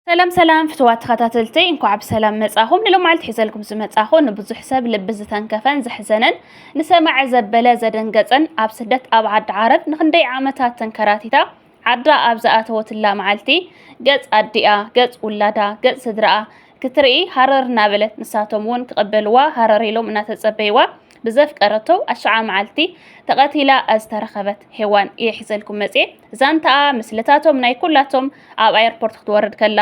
ሰላም ሰላም ፍትዋት ተኸታተልተይ እንኳዕ ብሰላም መጻኹም ንሎማዓልቲ ሒዘልኩም ዝመጻኹ ንብዙሕ ሰብ ልቢ ዝተንከፈን ዘሕዘነን ንሰማዐ ዘበለ ዘደንገጸን ኣብ ስደት ኣብ ዓዲ ዓረብ ንክንደይ ዓመታት ተንከራቲታ ዓዳ ኣብ ዝኣተወትላ መዓልቲ ገጽ ኣዲኣ ገጽ ውላዳ ገጽ ስድራኣ ክትርኢ ሃረር እናበለት ንሳቶም እውን ክቕበልዋ ሃረር ኢሎም እናተጸበይዋ ብዘፍቀረቶ ኣሽዓ መዓልቲ ተቐቲላ ዝተረኸበት ሄዋን እየ ሒዘልኩም መፅየ ዛንታኣ ምስልታቶም ናይ ኩላቶም ኣብ ኣየርፖርት ክትወርድ ከላ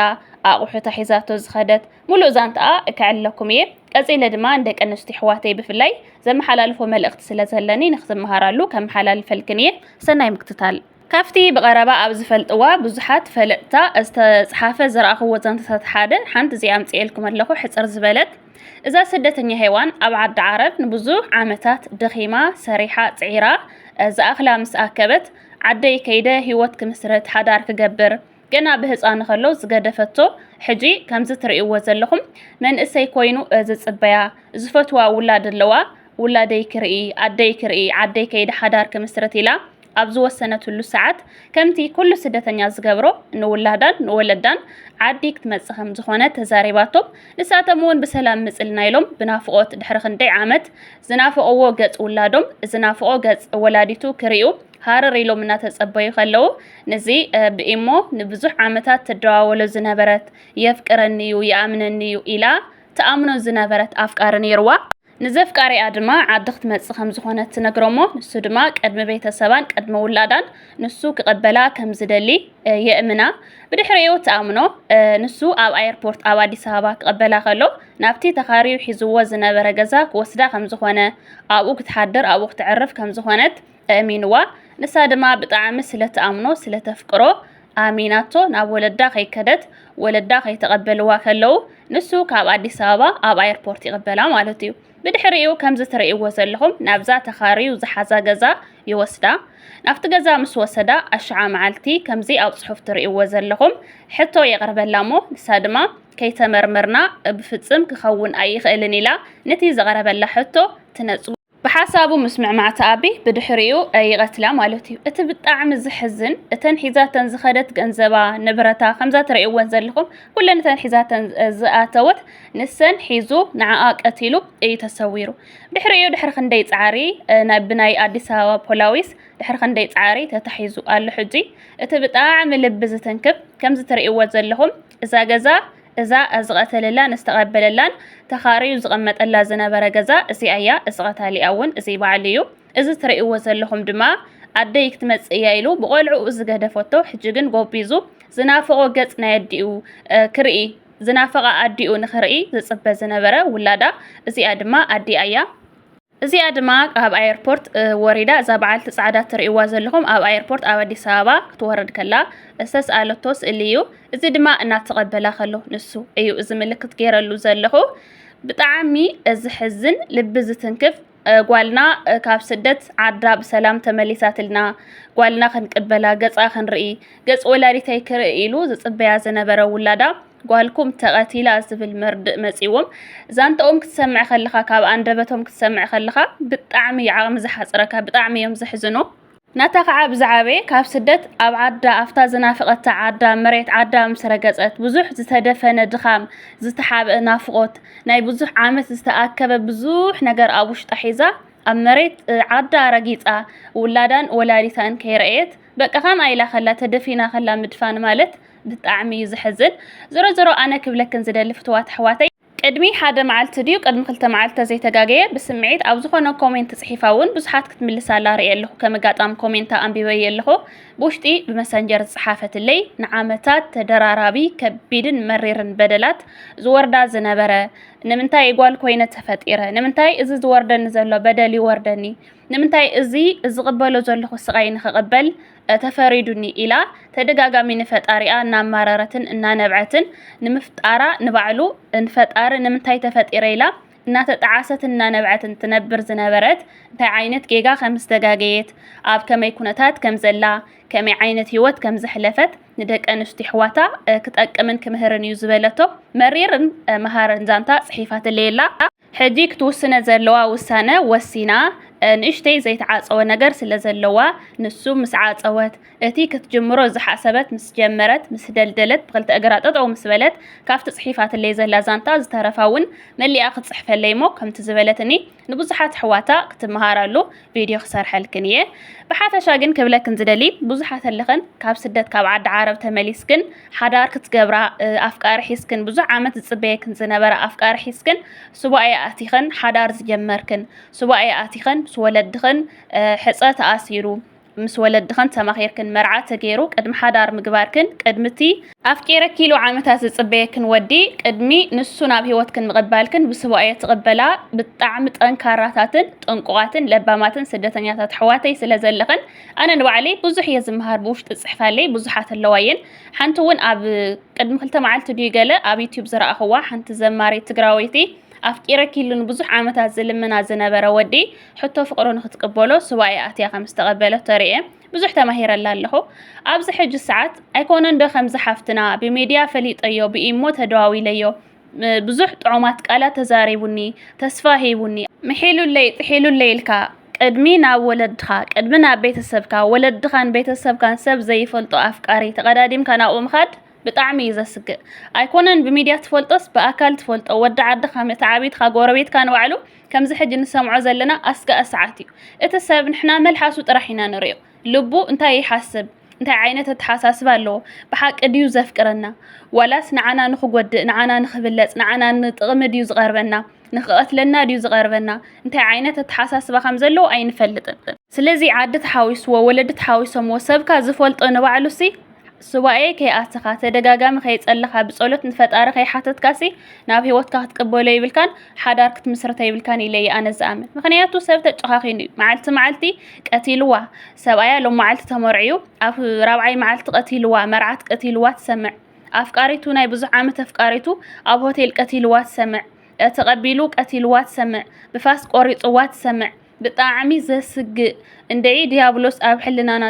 ኣቑሑታ ሒዛቶ ዝኸደት ሙሉእ ዛንታኣ እከዕለኩም እየ ቀፂለ ድማ ንደቂ ኣንስትዮ ኣሕዋተይ ብፍላይ ዘመሓላልፎ መልእኽቲ ስለ ዘለኒ ንክትመሃራሉ ከመሓላልፈልክን እየ ሰናይ ምክትታል ካብቲ ብቐረባ ኣብ ዝፈልጥዋ ብዙሓት ፈለጥታ ዝተጽሓፈ ዝረኣኹዎ ዛንታታት ሓደ፣ ሓንቲ እዚኣ ኣምጺኤልኩም ኣለኹ፣ ሕጽር ዝበለት፣ እዛ ስደተኛ ሄዋን ኣብ ዓዲ ዓረብ ንብዙሕ ዓመታት ደኺማ፣ ሰሪሓ፣ ጽዒራ፣ ዝኣኽላ ምስ ኣከበት፣ ዓደይ ከይደ ህይወት ክምስርት፣ ሓዳር ክገብር፣ ገና ብህጻኑ ከሎ ዝገደፈቶ፣ ሕጂ ከምዚ ትርእይዎ ዘለኹም መንእሰይ ኮይኑ ዝጽበያ፣ ዝፈትዋ ውላድ ኣለዋ፣ ውላደይ ክርኢ፣ ኣደይ ክርኢ፣ ዓደይ ከይደ ሓዳር ክምስርት ኢላ ኣብ ዝወሰነትሉ ሰዓት ከምቲ ኩሉ ስደተኛ ዝገብሮ ንውላዳን ንወለዳን ዓዲ ክትመጽእ ከም ዝኾነ ተዛሪባቶም ንሳቶም እውን ብሰላም ምጽልና ኢሎም ብናፍቖት ድሕሪ ክንደይ ዓመት ዝናፈቕዎ ገጽ ውላዶም ዝናፍቖ ገጽ ወላዲቱ ክርእዩ ሃረር ኢሎም እናተጸበዩ ከለዉ ንዚ ብኢሞ ንብዙሕ ዓመታት ትደዋወሎ ዝነበረት የፍቅረኒ እዩ ይኣምነኒ እዩ ኢላ ተኣምኖ ዝነበረት ኣፍቃሪ ነይርዋ ንዘፍቃሪኣ ድማ ዓዲ ክትመጽእ ከም ዝኾነት ትነግሮ'ሞ ንሱ ድማ ቅድሚ ቤተሰባን ቅድሚ ውላዳን ንሱ ክቐበላ ከም ዝደሊ የእምና። ብድሕሪኡ ትኣምኖ። ንሱ ኣብ ኣየርፖርት ኣብ ኣዲስ ኣበባ ክቐበላ ከሎ ናብቲ ተኻርዩ ሒዝዎ ዝነበረ ገዛ ክወስዳ ከም ዝኾነ፣ ኣብኡ ክትሓድር ኣብኡ ክተዕርፍ ከም ዝኾነት፣ ኣእሚንዋ ንሳ ድማ ብጣዕሚ ስለ ትኣምኖ ስለ ተፍቅሮ ኣሚናቶ ናብ ወለዳ ከይከደት ወለዳ ከይተቀበልዋ ከለው ንሱ ካብ ኣዲስ ኣበባ ኣብ ኣየርፖርት ይቅበላ ማለት እዩ ብድሕሪኡ ከምዚ ትርእይዎ ዘለኹም ናብዛ ተኻርዩ ዝሓዛ ገዛ ይወስዳ ናብቲ ገዛ ምስ ወሰዳ ኣሽዓ መዓልቲ ከምዚ ኣብ ጽሑፍ ትርእይዎ ዘለኹም ሕቶ የቅርበላ እሞ ንሳ ድማ ከይተመርመርና ብፍጽም ክኸውን ኣይኽእልን ኢላ ነቲ ዝቀረበላ ሕቶ ትነጽጎ ብሓሳቡ ምስምዕማዕቲ ኣቢ ብድሕሪኡ ይቐትላ ማለት እዩ እቲ ብጣዕሚ ዝሕዝን እተን ሒዛተን ዝኸደት ገንዘባ ንብረታ ከምዛ ትርእይወን ዘለኹም ኩለን እተን ሒዛተን ዝኣተወት ንሰን ሒዙ ንዓኣ ቀቲሉ እዩ ተሰዊሩ ድሕሪኡ ድሕሪ ክንደይ ፃዕሪ ናይ ብናይ ኣዲስ ኣበባ ፖላዊስ ድሕሪ ክንደይ ፃዕሪ ተታሒዙ ኣሎ ሕጂ እቲ ብጣዕሚ ልቢ ዝትንክፍ ከምዚ ትርእይዎ ዘለኹም እዛ ገዛ እዛ ዝቐተለላን ዝተቐበለላን ተኻርዩ ዝቐመጠላ ዝነበረ ገዛ እዚኣ እያ፣ እዚ ቐታሊኣ እውን እዚ ባዕሉ እዩ። እዚ ትርእይዎ ዘለኹም ድማ ኣደይ ክትመጽእ እያ ኢሉ ብቖልዕኡ ዝገደፈቶ ሕጂ ግን ጎቢዙ ዝናፈቖ ገጽ ናይ ኣዲኡ ክርኢ ዝናፈቓ ኣዲኡ ንኽርኢ ዝጽበ ዝነበረ ውላዳ እዚኣ ድማ ኣዲኣ እያ። እዚኣ ድማ ኣብ ኣየርፖርት ወሪዳ እዛ በዓልቲ ጻዕዳ ትርእይዋ ዘለኹም ኣብ ኣየርፖርት ኣብ ኣዲስ ኣበባ ክትወርድ ከላ ዝተስኣለቶ ስእሊ እዩ። እዚ ድማ እናተቐበላ ከሎ ንሱ እዩ እዚ ምልክት ገይረሉ ዘለኹ። ብጣዕሚ ዝሕዝን ልቢ ዝትንክፍ ጓልና ካብ ስደት ዓዳ ብሰላም ተመሊሳትልና ጓልና ክንቅበላ ገጻ ክንርኢ ገጽ ወላዲተይ ክርኢ ኢሉ ዝጽበያ ዝነበረ ውላዳ ጓልኩም ተቐቲላ ዝብል መርድእ መጺዎም ዛንታኦም ክትሰምዕ ከለኻ ካብ ኣንደበቶም ክትሰምዕ ከለኻ ብጣዕሚ እዩ ዓቕሚ ዝሓጽረካ ብጣዕሚ እዮም ዘሕዝኑ ናታ ከዓ ብዝዓበየ ካብ ስደት ኣብ ዓዳ ኣብታ ዝናፍቐታ ዓዳ መሬት ዓዳ ምስ ረገጸት ብዙሕ ዝተደፈነ ድኻም ዝተሓብአ ናፍቖት ናይ ብዙሕ ዓመት ዝተኣከበ ብዙሕ ነገር ኣብ ውሽጣ ሒዛ ኣብ መሬት ዓዳ ረጊጻ ውላዳን ወላዲታን ከይረእየት በቃ ከምኣ ኢላ ከላ ተደፊና ከላ ምድፋን ማለት ብጣዕሚ እዩ ዘሕዝን ዞሮ ዞሮ ኣነ ክብለክን ዝደሊ ፍትዋት ኣሕዋተይ ቅድሚ ሓደ መዓልቲ ድዩ ቅድሚ ክልተ መዓልቲ ተዘይተጋገየ ብስምዒት ኣብ ዝኾነ ኮሜንት ጽሒፋ እውን ብዙሓት ክትምልስ ኣላ ርእየ ኣለኹ ከም ኣጋጣሚ ኮሜንታ ኣንቢበየ ኣለኹ ብውሽጢ ብመሰንጀር ዝጸሓፈትለይ ንዓመታት ተደራራቢ ከቢድን መሪርን በደላት ዝወርዳ ዝነበረ ንምንታይ ጓል ኮይነ ተፈጢረ ንምንታይ እዚ ዝወርደኒ ዘሎ በደል ይወርደኒ ንምንታይ እዚ ዝቕበሎ ዘለኹ ስቓይ ንኽቕበል ተፈሪዱኒ ኢላ ተደጋጋሚ ንፈጣሪኣ እናማረረትን እናነብዐትን ንምፍጣራ ንባዕሉ ንፈጣሪ ንምንታይ ተፈጢረ ኢላ እናተጠዓሰትን እናነብዐትን ትነብር ዝነበረት እንታይ ዓይነት ጌጋ ከም ዝተጋገየት ኣብ ከመይ ኩነታት ከም ዘላ ከመይ ዓይነት ህይወት ከም ዘሕለፈት ንደቂ ኣንስትዮ ኣሕዋታ ክጠቅምን ክምህርን እዩ ዝበለቶ መሪርን መሃርን ዛንታ ጽሒፋትለይ ኣላ። ሕጂ ክትውስነ ዘለዋ ውሳነ ወሲና፣ ንእሽተይ ዘይተዓጸወ ነገር ስለዘለዋ፣ ንሱ ምስ ዓጸወት፣ እቲ ክትጅምሮ ዝሓሰበት ምስ ጀመረት፣ ምስ ደልደለት፣ ብኽልተ እግራ ጠጠው ምስ በለት፣ ካብቲ ጽሒፋትለይ ዘላ ዛንታ ዝተረፋ'ውን መሊኣ ክትጽሕፈለይ'ሞ ከምቲ ዝበለትኒ ንብዙሓት ኣሕዋታ ክትመሃራሉ ቪድዮ ክሰርሐልክን እየ ብሓፈሻ ግን ክብለክን ዝደሊ ብዙሓት ኣለኽን ካብ ስደት ካብ ዓዲ ዓረብ ተመሊስክን ሓዳር ክትገብራ ኣፍቃሪ ሒዝክን ብዙሕ ዓመት ዝፅበየክን ዝነበረ ኣፍቃሪ ሒዝክን ሱባኤ ኣቲኽን ሓዳር ዝጀመርክን ሱባኤ ኣቲኽን ምስ ወለድኽን ሕፀ ተኣሲሩ ምስ ወለድኽን ተማኺርክን መርዓ ተገይሩ ቅድሚ ሓዳር ምግባርክን ቅድሚ እቲ ኣፍቂረኪ ኢሉ ዓመታት ዝጽበየክን ወዲ ቅድሚ ንሱ ናብ ህይወትክን ምቕባልክን ብስቡኣየ ትቕበላ ብጣዕሚ ጠንካራታትን ጥንቁቓትን ለባማትን ስደተኛታት ኣሕዋተይ ስለ ዘለኽን ኣነ ንባዕለይ ብዙሕ እየ ዝምሃር ብውሽጢ ጽሕፋለይ ብዙሓት ኣለዋየን ሓንቲ እውን ኣብ ቅድሚ ክልተ መዓልቲ ድዩ ገለ ኣብ ዩትዩብ ዝረኣኽዋ ሓንቲ ዘማሪት ትግራወይቲ ኣፍቂረኪ ኢሉ ንብዙሕ ዓመታት ዝልምና ዝነበረ ወዲ ሕቶ ፍቕሩ ንክትቅበሎ ስቡኣየ ኣትያ ከም ዝተቐበለቶ ርኤ ብዙሕ ተማሂረላ ኣለኹ ኣብዚ ሕጂ ሰዓት ኣይኮነን ዶ ከምዚ ሓፍትና ብሚድያ ፈሊጠዮ ብኢሞ ተደዋዊለዮ ብዙሕ ጥዑማት ቃላት ተዛሪቡኒ ተስፋ ሂቡኒ ምሒሉለይ ጥሒሉለይ ኢልካ ቅድሚ ናብ ወለድኻ ቅድሚ ናብ ቤተሰብካ ወለድኻን ቤተሰብካን ሰብ ዘይፈልጦ ኣፍቃሪ ተቐዳዲምካ ናብኡ ምኻድ ብጣዕሚ እዩ ዘስግእ ኣይኮነን ብሚድያ ትፈልጦስ ብኣካል ትፈልጦ ወዲ ዓድኻ መተዓብይትኻ ጎረቤትካ ንባዕሉ ከምዚ ሕጂ ንሰምዖ ዘለና ኣስጋኢ ሰዓት እዩ እቲ ሰብ ንሕና መልሓሱ ጥራሕ ኢና ንሪኦ ልቡ እንታይ ይሓስብ እንታይ ዓይነት ኣተሓሳስባ ኣለዎ ብሓቂ ድዩ ዘፍቅረና ዋላስ ንዓና ንኽጎድእ ንዓና ንኽብለጽ ንዓና ንጥቕሚ ድዩ ዝቐርበና ንኽቐትለና ድዩ ዝቐርበና እንታይ ዓይነት ኣተሓሳስባ ከም ዘለዎ ኣይንፈልጥን ስለዚ ዓዲ ተሓዊስዎ ወለዲ ተሓዊሶምዎ ሰብካ ዝፈልጦ ንባዕሉሲ ሱባኤ ከይኣተኻ ተደጋጋሚ ከይጸለኻ ብጸሎት ንፈጣሪ ከይሓተትካሲ ናብ ሂወትካ ክትቅበሎ የብልካን ሓዳር ክትምስርቶ የብልካን ኢለ እየ ኣነ ዝኣምን ምክንያቱ ሰብ ተጨኻኺኑ እዩ መዓልቲ መዓልቲ ቀቲልዋ ሰብኣያ ሎም መዓልቲ ተመርዕዩ ኣብ ራብዓይ መዓልቲ ቀቲልዋ መርዓት ቀቲልዋ ትሰምዕ ኣፍቃሪቱ ናይ ብዙሕ ዓመት ኣፍቃሪቱ ኣብ ሆቴል ቀቲልዋ ትሰምዕ ተቐቢሉ ቀቲልዋ ትሰምዕ ብፋስ ቆሪጽዋ ትሰምዕ ብጣዕሚ ዘስግእ እንድዒ ድያብሎስ ኣብ ሕልናና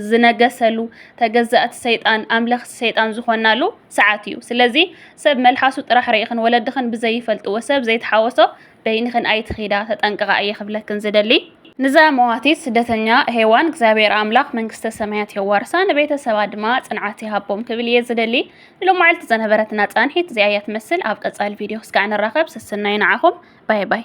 ዝነገሰሉ ተገዛእቲ ሰይጣን ኣምለኽቲ ሰይጣን ዝኾናሉ ሰዓት እዩ ስለዚ ሰብ መልሓሱ ጥራሕ ርኢኽን ወለድኽን ብዘይፈልጥዎ ሰብ ዘይተሓወሶ በይንኽን ኣይትኺዳ ተጠንቀቓ እየ ክብለክን ዝደሊ ንዛ መዋቲት ስደተኛ ሄዋን እግዚኣብሔር ኣምላኽ መንግስተ ሰማያት የዋርሳ ንቤተሰባ ድማ ጽንዓት ይሃቦም ክብል እየ ዝደሊ ንሎማዕልቲ ዘነበረትና ጻንሒት እዚኣ እያ ትመስል ኣብ ቀጻሊ ቪድዮ ክስካዕ ንራኸብ ሰሰናዩ ንዓኹም ባይ ባይ